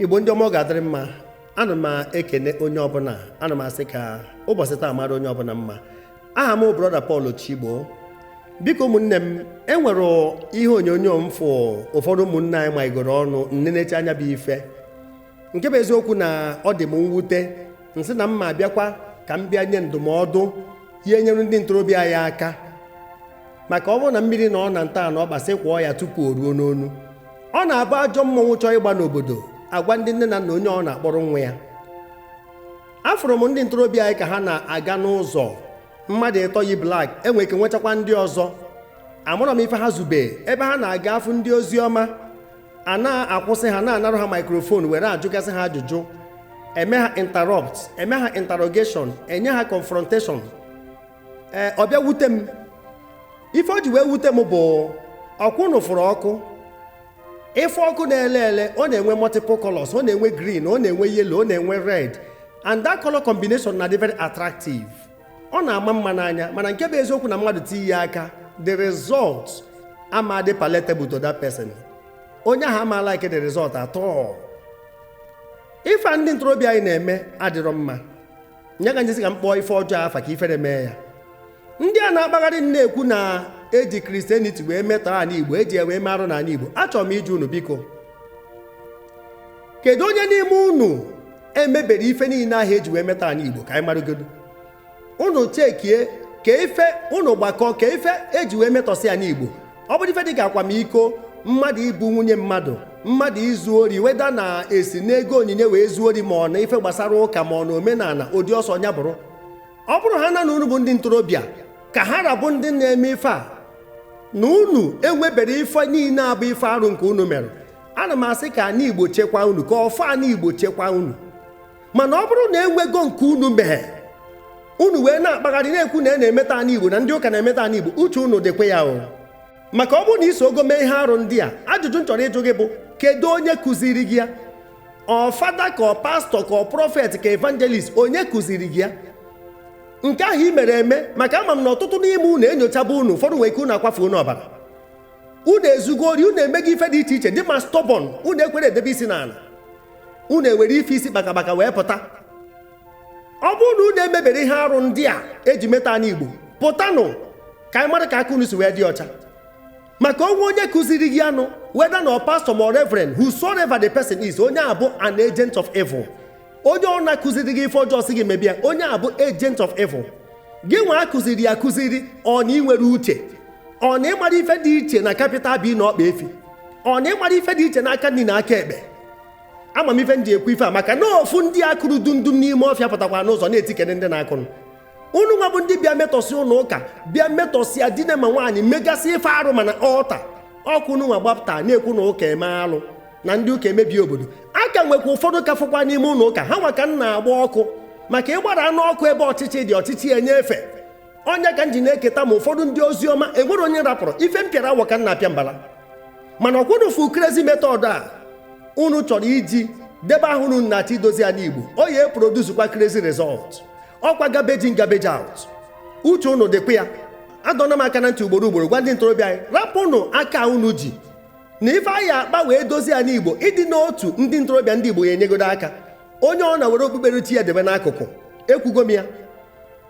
igbo ndị ọma ọ ga-adịrị mma ana m ekene onye ọbụla ana m asị ka ụbọchị taa mara onye ọbụla mma aha m brọda Paul Chigbo biko ụmụnne m enwere ihe onyonyo m fụ ụfọdụ ụmụnne anyị maigoro ọnụ m nenechaa nya bụ ife nke bụ eziokwu na ọ dị m mwute m sị na m ma abịakwa ka m bịa nye ndụmọdụ ya-enyere ndị ntorobịa anyị aka maka ọ bụrụ na mmiri nọ na nta na ọkpa sị kwọọ ya tupu o ruo n'onu ọ na-abụ ajọ mmọnwụ chọọ ịgba n'obodo agwa ndị nne na nna onye ọbụna akpọrọ nwa ya afụrụ m ndị ntorobịa anyị ka ha na-aga n'ụzọ mmadụ ịtọ yi blak enwe ike nwechakwa ndị ọzọ amarọ m ife ha zube ebe ha na-aga afụ ndị ozi ọma a na-akwụsị ha na-anarụ ha maikrofon were ajụgasị ha ajụjụ eme ha interrupt eme ha interrogation enye ha confrontation ee ọ bịa wute m ife o ji wee wute m bụ ọ kwa unu fụrụ ọkụ ị fụ ọkụ na-ele ele ọ na-enwe multiple colors ọ na-enwe green ọ na-enwe yellow ọ na-enwe red and that color combination na-adị very attractive ọ na-ama mma n'anya mana nke bụ eziokwu na mmadụ tinye ya aka the result ama adị palatable to that person onye ahụ ama like the result at all ife a ndị ntorobịa anyị na-eme adịrọ mma nya ka m ji sị ka m kpọọ ife ọjọọ afa ka ifere mee ya ndị a na-akpagharị na-ekwu na eji kristianiti wee metọọ ala igbo eji wee mee arụ n'ala igbo achọrọ m ịjụ unu biko kedu onye n'ime unu emebere ife niile ahụ eji wee metọọ ala igbo ka anyị marụgodu unu chekie ka ife unu gbakọ ka ife eji wee metọsịa ala igbo ọ bụrụ ife dịka akwamiko mmadụ ibu nwunye mmadụ mmadụ izu ori whether na esi n'ego onyinye wee zuo ori ma ọ na ife gbasara ụka ma ọ na omenala ụdị ọ sọ nya bụrụ ọ bụrụ ha na na unu bụ ndị ntorobịa ka ha ra bụ ndị na-eme ife a na unu enwebere ife niile a bụ ife arụ nke unu mere ana m asị ka ana igbo chekwa unu ka ọfọ ana igbo chekwa unu mana ọ bụrụ na enwego nke unu mee unu wee na-akpagharị na-ekwu na e na-emetọ ana igbo na ndị ụka na-emetọ ana igbo uche unu dịkwa ya o maka ọ bụrụ na i sogo mee ihe arụ ndị a ajụjụ m chọrọ ịjụ gị bụ kedu onye kụziri gị ya ọ fada ka ọ pastọ ka ọ prọfet ka evangelist onye kụziri gị ya nke ahụ i mere eme maka ama m na ọtụtụ n'ime unu enyochaba unu ụfọdụ nwere ike unu akwafu unu ọbara unu ezugo ori unu emego ife dị iche iche dị ma stọbọn unu ekwerọ edebe isi n'ala unu ewere ife isi kpakakpaka wee pụta ọ bụrụ na unu emebere ihe arụ ndị a eji metọọ ana igbo pụtanụ ka anyị mara ka aka unu si wee dị ọcha maka o nwe onye kụziri gị ya nụ whether na ọ pastọ ma ọ reverend whosoever the person is onye a bụ an agent of evil onye ọbụna kụziri gị ife ọjọọ sị gị mebe ya onye a bụ agent of evil gị nwa a kụziri akụziri ọ na ịnwere uche ọ na ịmara ife dị iche na capital b na ọkpa efi ọ na ịmara ife dị iche n'aka nri na aka ekpe ama m ife m ji ekwu ife a maka na ofu ndị akụrụ dundum n'ime ọfịa pụtakwa n'ụzọ na-etikere ndị na-akụrụ unu nwa bụ ndị bịa metọsị ụlọ ụka bịa metọsị ya dine ma nwaanyị megasị ife arụ ma na altar ọkwa unu nwa gbapụta na-ekwu na ụka eme alụ na ndị ụka emebie obodo a ka nwekwa ụfọdụ ka fụkwa n'ime ụlọ ụka ha nwa ka m na-agba ọkụ maka ịgbara anụ ọkụ ebe ọchịchị dị ọchịchị enye efe ọ nya ka m ji na-eketa ma ụfọdụ ndị ozi ọma enwero onye m rapụrụ ife m pịara awọ ka m na-apịa mbala mana ọkwa unu fụ crazy method a unu chọrọ iji debe ahụ unu na-achọ idozi ana igbo ọ ya eproducekwa crazy result ọkwa garbage in garbage out uche unu dịkwa ya adọna m aka na ntị ugboro ugboro gwa ndị ntorobịa anyị rapụnụ aka unu ji na ife a ya akpa wee dozie ana igbo ịdị n'otu ndị ntorobịa ndị igbo ya enyegodo aka onye ọ na were okpukperechi ya debe n'akụkụ ekwugo m ya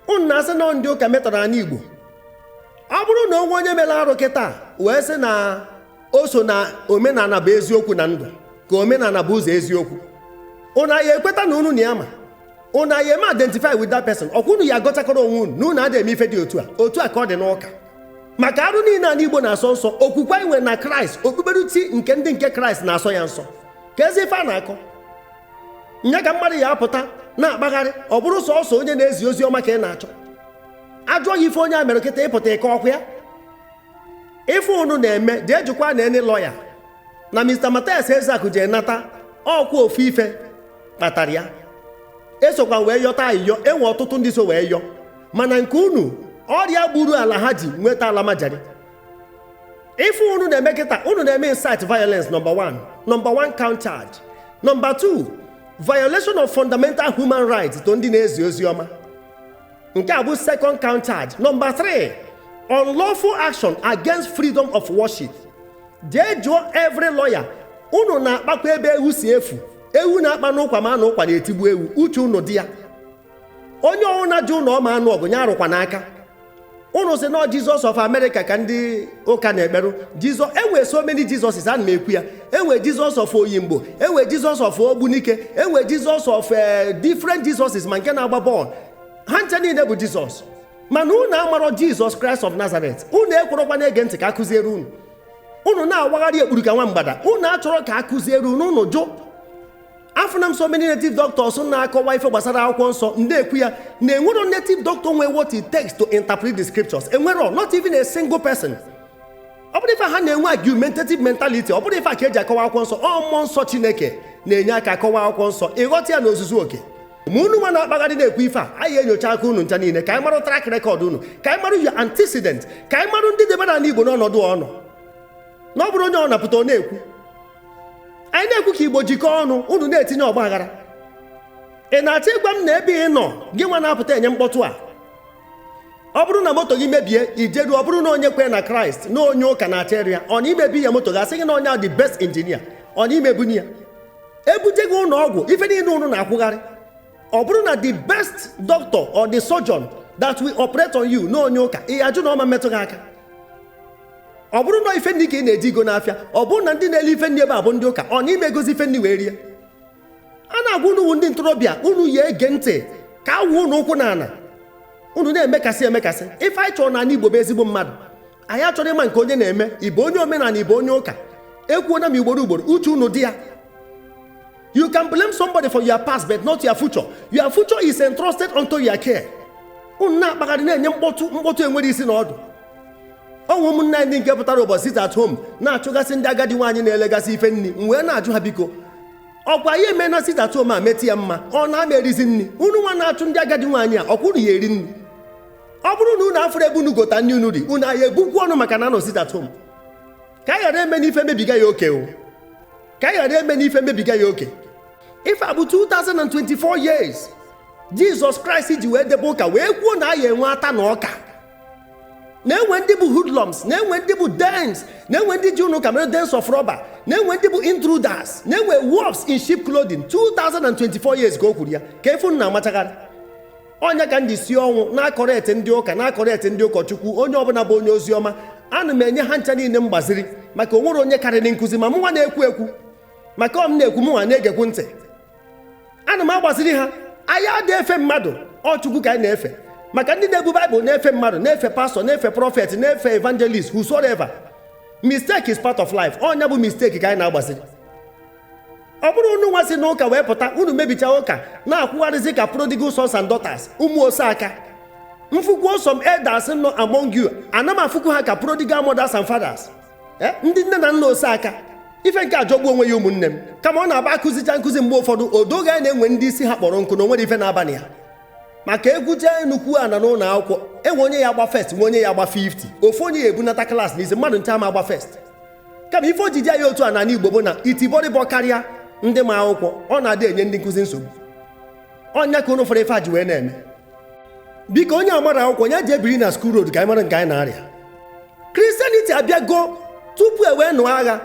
unu na-asị na ndị ụka metọrọ ana igbo ọ bụrụ na o nwe onye mere arụ kịta wee sị na o so na omenala bụ eziokwu na ndụ ka omenala bụ ụzọ eziokwu unu ya ekweta na unu na ya ma unu ya eme identify with that person ọkwa unu ya agọchakọrọ onwe unu na unu adịghị eme ife dị otu a otu a ka ọ dị n'ụka maka arụ niile ala igbo na-asọ nsọ okwukwe anyị nwere na kraịst okpukperechi nke ndị nke kraịst na-asọ ya nsọ keezi ife a na-akọ nya ka mmadụ ya apụta na-akpagharị ọ bụrụ sọsọ onye na-ezi ozi ọma ka ị na-achọ ajụọ ya ife onye a mere kịta ịpụta ịkọ okwu ya ife unu na-eme jee jụkwa na any lawyer na mr matthias ezeaku ji nata ọkwa ofu ife kpatara ya esokwa wee yọta ayịyọ enwe ọtụtụ ndị so wee yọ mana nke unu ọrịa gburu alhaji nweta almajiri ife unu na-eme kịta unu na-eme incite violence number one number one count charge number two violation of fundamental human rights to ndị na-ezi ozi ọma nke a bụ second count charge number three unlawful action against freedom of worship jee jụọ every lawyer unu na-akpakwa ebe ewu si efu ewu na-akpa n'ụkwa ma na ụkwa na-etigbu ewu uche ụnụ dị ya onye ọnwụ na-ajụ ụnụ ọma anụ ọgụ ya arụkwa n'aka unu sị na jizọs of america ka ndị ụka na-ekperụ jizọs enwe so many jesuses ana m ekwu ya enwe jizọs of oyimbo enwe jizọs of ogbunike enwe jizọs of eh, different jesuses ma nke na-agba bọọlụ ha ncha niile bụ jizọs mana unu amarọ jizọs kraịst of nazareth unu ekwerọkwa na-ege ntị ka akụziere unu unu na-awagharị ekpuru ka nwa mgbada unu achọrọ ka a kụziere unu unu jụ afụna m so many native doctors na-akọwa ife gbasara akwụkwọ nsọ ndị ekwu ya na enwero native doctor nwe what it takes to interpret the scriptures enwero not even a single person ọ bụrọ ife ha na-enwe argumentative mentality ọ bụrọ ife a ka eji akọwa akwụkwọ nsọ ọ mmụọ nsọ chineke na-enye aka akọwa akwụkwọ nsọ ịghọta ya n'ozuzu oke ma unu nwa na-akpagharị na-ekwu ife a anyị enyocha aka unu ncha niile ka anyị marụ track record unu ka anyị marụ your antecedent ka anyị marụ ndị debere ala igbo n'ọnọdụ ọ nọ na ọ bụrụ onye ọ na-apụta ọ na-ekwu anyị na-ekwu ka igbo jikọọ ọnụ unu na-etinye ọgba aghara ị na-achọ ịgwa m na ebe ị nọ gị nwa na-apụta enye mkpọtụ a ọ bụrụ na moto gị mebie i jeru ọ bụrụ na onye kwere na kraịst na onye ụka na-achọ ịrụ ya ọ na ị ma ebunye ya moto gị a sị gị na onye a the best engineer ọ na ị ma ebunye ya e buje gị ụlọ ọgwụ ife niile unu na-akwụgharị ọ bụrụ na the best doctor or the surgeon that will operate on you na onye ụka ị ajụ na ọ ma emetụ gị aka ọ bụrụ na ife nri ka ị na-eje igo n'afịa ọ bụrụ na ndị na-ele ife nri ebe a bụ ndị ụka ọ na ị ma egozi ife nri wee rie a na-agwa unu ndị ntorobịa unu ya ege ntị ka awụ unu ụkwụ n'ala unu na-emekasị emekasị ife anyị chọrọ n'ala Igbo bụ ezigbo mmadụ anyị achọrọ ịma nke onye na-eme ị bụ onye omenala ị bụ onye ụka ekwuona m ugboro ugboro uche unu dị ya you can blame somebody for your past but not your future your future is entrusted unto your care unu na-akpagharị na-enye mkpọtụ enwerọ isi na ọdụ o nwe ụmụnne anyị nke pụtara ụbọchị sit at home na-achụgasị ndị agadi nwaanyị na-elegasị ife nri m wee na-ajụ ha biko ọkwa ya eme na sit at home a metụ ya mma ọ na a ma erizi nri unu nwa na-achụ ndị agadi nwaanyị a ọkwa unu ya eri nri ọ bụrụ na unu afụrọ ebe unu gota nri unu ri unu a ya ebukwu ọnụ maka na a nọ sit at home ka anyị ghara eme n'ife mebiga ya oke o ka anyị ghara eme n'ife mebiga ya oke ife a bụ 2024 years jizọs kraịst ji wee debe ụka wee kwuo na a ya enwe ata na ọka na-enwe ndị bụ hoodlums na-enwe ndị bụ dens na-enwe ndị ji ụlọ ụka mere dens of robber na-enwe ndị bụ intruders na-enwe wolves in sheep clothing 2024 years ka o kwuru ya kee ife unu na-amachagharị ọ nya ka m ji si ọnwụ na-acorrect ndị ụka na-acorrect ndị ụkọchukwu onye ọbụla bụ onye ozi ọma ana m enye ha ncha niile mgbaziri maka o nwerọ onye karịrị nkụzi ma mụnwa na-ekwu ekwu maka ọ m na-ekwu mụnwa na-egekwu ntị ana m agbaziri ha anyị adị efe mmadụ ọ chukwu ka anyị na-efe maka ndị na-ebu baịbụl na-efe mmadụ na-efe pastor na-efe prophet na-efe evangelist whosoever mistake is part of life ọ nya bụ mistake ka anyị na-agbaziri ọ bụrụ unu nwa si n'ụka wee pụta unu mebicha ụka na-akwụgharịzi ka prodigal sons and daughters ụmụ ose aka m fụkwu some elders nọ among you ana m afụkwu ha ka prodigal mothers and fathers eh, ndị nne na nna ose aka ife nke a jọgbu onwe ya ụmụnne m kama ọ na-abụ a kụzicha nkụzi mgbe ụfọdụ o do gị anya na e nwe ndị isi ha kpọrọ nkụ na o nwerọ ife na-aba na ya maka e kwucha nnukwu ana n'ụlọ akwụkwọ enwe onye ya agba first nwe onye ya agba 50 ofu onye ya ebunata class n'isi mmadụ ncha ma agba first kama ife o ji dị anyị otu a n'ala Igbo bụ na itibọrịbọ karịa ndị ma akwụkwọ ọ na-adị enye ndị nkụzi nsogbu ọ nya ka unu fụrụ ife a ji wee na-eme biko onye amarọ akwụkwọ ya jee biri na skuul road ka anyị mara nke anyị na-arịa kristianiti abịago tupu e wee nụọ agha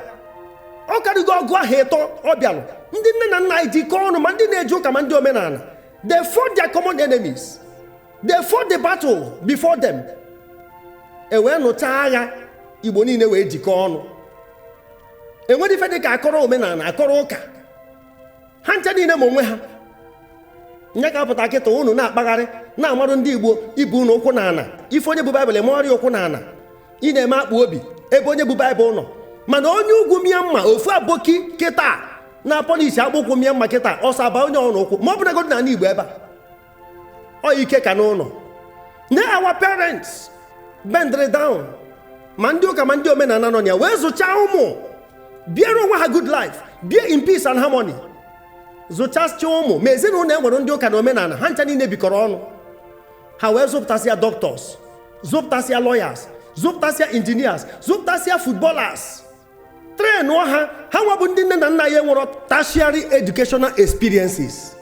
ọ karịgo ọgụ ahọ ịtọ ọ bịalụ ndị nne na nna anyị jikọọ ọnụ ma ndị na-eje ụka ma ndị omenala they fought their common enemies they fought the battle before them e wee nụcha agha igbo niile wee jikọọ ọnụ enwerọ ife dịka akọrọ omenala akọrọ ụka ha ncha niile ma onwe ha nya ka a pụta kịta unu na-akpagharị na-amarụ ndị igbo ibe unu ụkwụ na ala ị fụ onye bu baịbụl emegharịa ụkwụ na ala ị na-eme akpụ obi ebe onye bu baịbụl nọ mana onye ugwu mịa mma ofu aboki kịta na-polish akpụkwụ mịa mma kịta ọsọ aba onye ọrụ ụkwụ ma ọ bụrụgodị na ala igbo ebe a ọ ike ka n'ụlọ na our parents bendrị down ma ndị ụka ma ndị omenala nọ ya wee zụchaa ụmụ biere onwe ha good life bie in peace and harmony zụchasịa ụmụ ma ezinụlọ enwere ndị ụka na omenala ha ncha niile bikọrọ ọnụ ha wee zụpụtasịa doctors zụpụtasịa lawyers zụpụtasịa engineers zụpụtasịa footballers trainụọ ha ha nwa bụ ndị nne na nna anyị enwerọ tertiary educational experiences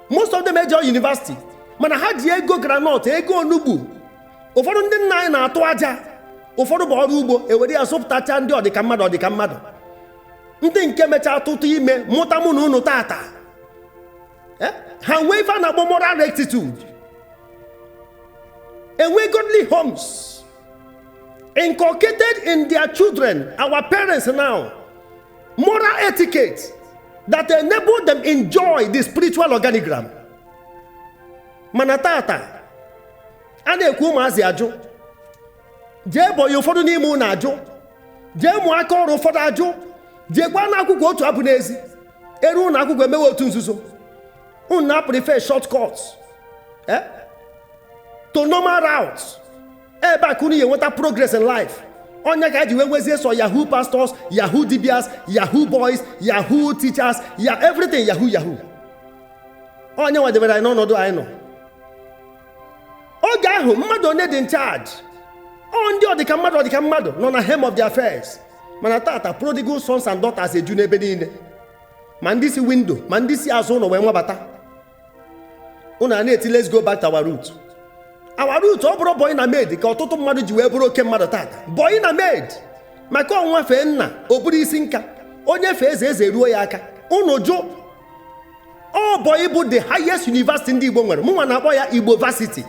most of them ejerọ university mana ha ji ego granọt ego onugbu ụfọdụ ndị nna anyị na-atụ aja ụfọdụ bụ ọrụ ugbo ewere ya zụpụtacha ndị ọdịka mmadụ ọdịka mmadụ ndị nke mechaa tụta ime mụta mụ na unu tata Eh? ha nwee ife a na-akpọ moral rectitude enwe godly homes inculcated in their children, our parents now, moral etiquette that enable them enjoy the spiritual organigram. Mana tata, a na-ekwu ụmụazị ajụ, jee bọyị ụfọdụ n'ime unu ajụ, jee mụọ aka ọrụ ụfọdụ ajụ, jeekwanụ akwụkwọ otu a bụ n'ezi, eru ụlọ akwụkwọ emewe otu nzuzo. unu na-prefer short cut eh? to normal route ebee ka unu ga-enweta progress in life ọ nya ka e ji wee nwezie sọ yahoo pastors yahoo dibias yahoo boys yahoo teachers ya everything yahoo yahoo ọ nya nwa debere anyị n'ọnọdụ anyị nọ oge ahụ mmadụ onye dị in charge ọ ndị ọdịka mmadụ ọdịka mmadụ nọ na helm of the affairs mana tata prodigal sons and daughters eju n'ebe niile ma ndị si window ma ndị si azụ ụnọ wee wabata unu a na-eti let's go back to our root our root ọ bụrụ bọyị na maid ka ọtụtụ mmadụ ji wee bụrụ oke mmadụ tata bọyị na maid maka ọ nwa fee nna o buru isi nka onye fee eze eze eruo ya aka unu jụ ọ bọyị bụ the highest university ndị igbo nwere mụnwa na-akpọ ya igbo varsity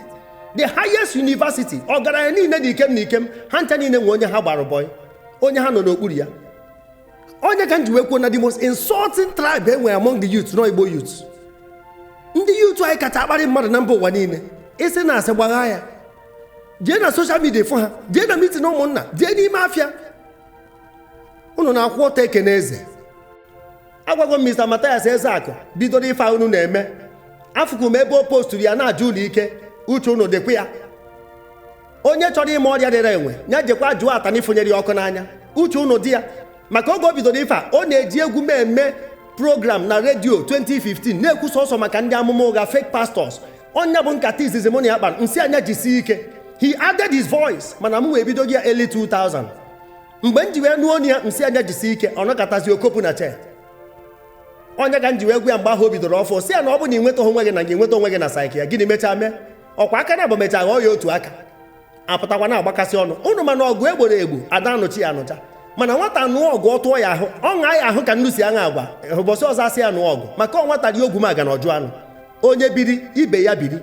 the highest university ọgaranya niile dị ikem na ikem ha ncha niile nwe onye ha gbara bọyị onye ha nọ n'okpuru ya ọ nya ka m ji wee kwuo na the most insulting tribe e nwere among the youth na ọ igbo youth ndị youth anyị kacha akparị mmadụ na mba ụwa niile ị sị na asị gbagha ya jee na social media fụ ha jee na meeting ụmụnna jee n'ime afịa unu na-akwụ ọtọ ekene eze agwago m mathias ezeakụ bidoro ife a unu na-eme afụkụ m ebe o postụrụ ya na-aja unu ike uche unu dịkwa ya onye chọrọ ịma ọrịa rịara enwe ya jekwa jụọ atanị fụnyere ya ọkụ n'anya uche unu dị ya maka oge o bidoro ife a ọ na-eji egwu m eme program na radio 2015 na-ekwu sọsọ maka ndị amụma ụgha fake pastors ọ nya bụ nkata izizi mụ na ya kpara m sị ya nya jisie ike he added his voice mana mụnwa ebidogo ya early 2000 mgbe m ji wee nụọ onu ya m sị ya nya jisie ike ọ nọkatazị o kopụ na church ọ nya ka m ji wee gwa ya mgbe ahụ o bidoro ọfụụ sị ya na ọ bụ na ị nweta onwe gị na gị nweta onwe gị na psychia gịnị mechaa mee ọ kwa aka naabọ mechaa ghọọ ya otu aka apụtakwa na-agbakasị ọnụ unu ma na ọgụ e gboro egbo a da anụcha ya anụcha mana nwata nụọ ọgụ ọ tụọ ya ahụ ọ ṅaa ya ahụ ka nnu si aṅa agwa ụbọchị ọzọ a sị ya nụọ ọgụ maka ọ nwata rie ogwumagana ọ jụ anụ onye biri ibe ya biri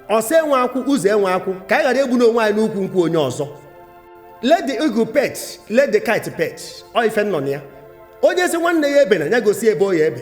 ọsa enwe akwụ uze enwe akwụ ka anyị ghara egbuna onwe anyị n'ukwu nkwụ onye ọzọ let the eagle perch let the kite perch ọ ife nọ na ya onye sị nwanne ya ebena ya gosi ebe ọ ya-ebe